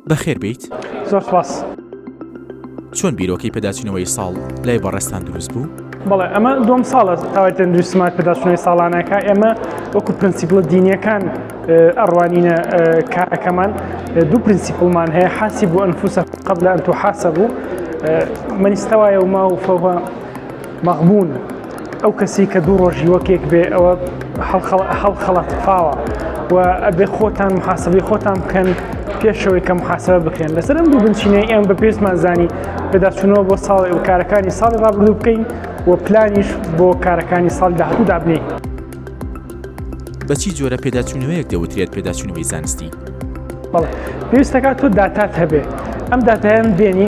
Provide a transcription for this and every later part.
بەخێر بێیت. زۆر سوپاس. چۆن بیرۆکەی پێداچوونەوەی ساڵ لای بەڕێزتان دروست بوو؟ بەڵێ ئەمە دووەم ساڵە تاوای تەندروستیمان پێداچوونەوەی ساڵانە ئەکا ئێمە وەکو پرنسیپڵە دینیەکان ئەڕوانینە کارەکەمان دوو پرنسیپڵمان هەیە حاسیبو انفوسکم قبل ان تحاسبو من استوى يومه فهو مەغبون، ئەو کەسی کە دوو ڕۆژی وەک یەک بێ ئەوە هەڵخەڵەتفاوە و ئەبێ خۆتان محاسبەی خۆتان بکەن پێشەوەی کە محاسبە بکرێن لەسەر ئەم دوو بنچینەی ئێم بە پێستمان زانی پێداچوونەوە بۆ ساڵی و کارەکانی ساڵی ڕابردوو بکەین و پلانیش بۆ کارەکانی ساڵ داهاتوو دابنین. بە چی جۆرە پێداچوونەوەیەک دەوترێت پێداچوونەوەی زانستی؟ بەڵێ پێویست دەکات تۆ داتات هەبێ ئەم داتایان بێنی،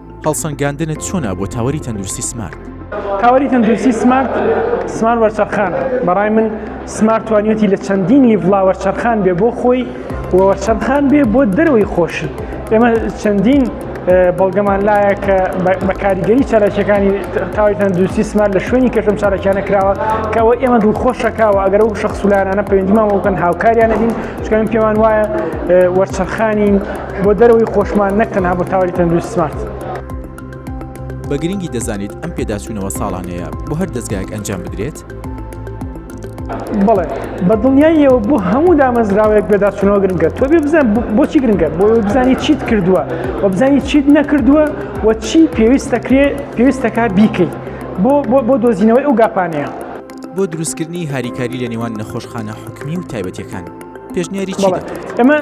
هەڵسەنگاندنت چۆنە بۆ تاوەری تەندروستی سمارت؟ تاوەری تەندروستی سمارت سمارت وەرچەرخانە بەڕای من سمارت توانیوتی لە چەندین لیڤڵا وەرچەرخان بێ بۆ خۆی وەرچەرخان بێ بۆ دەرەوەی خۆشی ئێمە چەندین بەڵگەمان لایە کە بە کاریگەری چالاکیەکانی تاوی تەندروستی سمار لە شوێنی کەشم چالاکیانە کراوە کەەوە ئێمە دوو خۆشەکەەوە ئەگەر و شخصولانانە پەیوەندیمان بۆکەن هاوکاریانە دین چکەم پێوان وایە وەرچەرخانی بۆ دەرەوەی خۆشمان نەک تەنها بۆ تاوەری تەندروست سمارت. بە گرنگی دەزانیت ئەم پێداچوونەوە ساڵانەیە بۆ هەر دەزگایەک ئەنجام بدرێت؟ بەڵێ بە دڵنیاییەوە بۆ هەموو دامەزراوەیەک بێداچوونەوە گرنگە تۆ بێ بزان بۆچی گرنگە بۆ بزانی چیت کردووە و بزانی چیت نەکردووە و چی پێویستەکرێ پێویستەکە بیکەیت بۆ بۆ بۆ دۆزینەوەی ئەو گاپانەیە بۆ دروستکردنی هاریکاری لە نێوان نەخۆشخانە حکومی و تایبەتەکان. پێشنیاری چی دەکات؟ ئەمە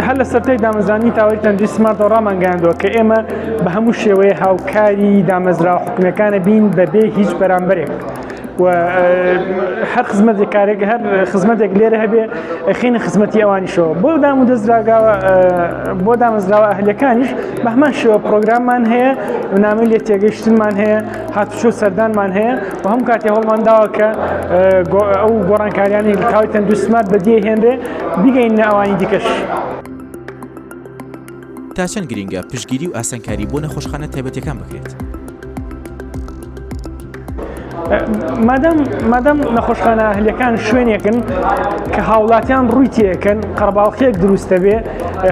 هەر لە سەرای دامەزانی تاوای تەندی سمارتەوە ڕامانگەاندووە کە ئێمە بە هەموو شێوەیە هاوکاری دامەزرا حکومەکانە بین بەبێ هیچ بەرامبەرێک. و هەر خزمەتی کارێک هەر خزمەتێک لێرە هەبێ خینە خزمەتی ئەوانیشەوە بۆ دام و دەستراگاوە بۆ دامەزراوە هەلەکانیش بەهمان شێوە پرۆگراممان هەیە بنامی لێ تێگەشتمان هەیە هاتوچۆ سەردانمان هەیە و هەم کاتی هەوڵمان داوە کە ئەو گۆڕانکاریانی تاوی تەندروستمات بەدیێ هێنرێ بیگەین ناوانی دیکەش. تا چەند گرنگە پشگیری و ئاسانکاری بۆ نەخۆشخانە تایبەتەکان بکرێت. مادەم مادەم نەخۆشخانە هەلەکان شوێنێکن کە هاوڵاتیان ڕووی تێکەن قەرباڵخێک دروستە بێ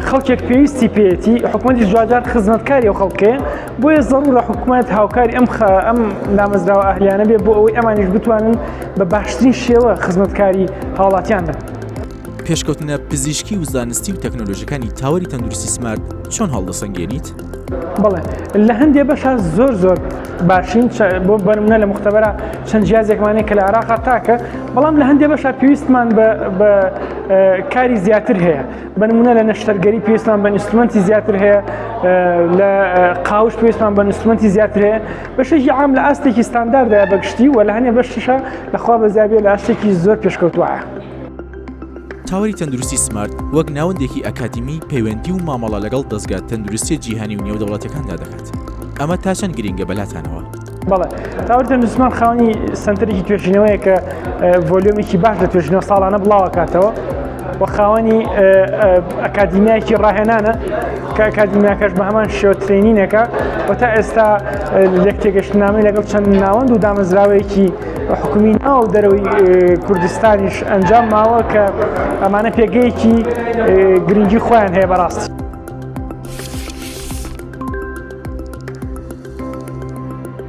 خەڵکێک پێویستی پێێتی حکوومەتی جوجار خزمەتکاری و خەڵکێ بۆیە زەڕورە حکوومەت هاوکاری ئەم ئەم نامەزراوە ئەهلیانە بێ بۆ ئەوەی ئەمانیش بتوانن بە باشترین شێوە خزمەتکاری هاوڵاتیان بن. پێشکەوتنە پزیشکی و زانستی و تەکنۆلۆژەکانی تاوەری تەندروستی سمارت چۆن هەڵدەسەنگێنیت؟ بڵێ لە هەندێ بەشە زۆر زۆر باشین بۆ بەرمنە لە مختبەرە چەند جیازێکمانەیە کە لە عراقا تاکە بەڵام لە هەندێ بەشە پێویستمان بە کاری زیاتر هەیە بەنمونە لە نەشتەرگەری پێستان بە نیستمەنتی زیاتر هەیە لە قاوش پێستان بە نیستمەنتی زیاتر هەیە بەشێکی عام لە ئاستێکی ستانداردە بەگشتی و لە هەنێ بەشتیشە لەخوا بەزیابێ لە ئاستێکی زۆر پێشکەوتوە. تاوەری تەندروستی سمارت وەک ناوەندێکی ئەکادیمی پەیوەندی و مامەڵە لەگەڵ دەستگا تەندروستی جیهانی و نێودەوڵەتەکاندا دەکات ئەمە تا چەند گرنگە بەلاتانەوە؟ بەڵێ ئەوردە نوزمان خاونی سنتەرێکی توێژینەوەیە کە ڤۆلیۆمێکی باش لە توێژینەوە ساڵانە بڵاوکاتەوە و خاوەنی ئەکادیمیایکی ڕاهێنانە کە ئەکادیمیاکەش بە هەمان شێوە ترێنینەکە و تا ئێستا لێک تێگەشتنامەی لەگەڵ چەند ناوەند و دامەزراوەیەکی حکومی ناو دەرەوەی کوردستانیش ئەنجام ماوە کە ئەمانە پێگەیەکی گرنگی خۆیان هەیە بەڕاستی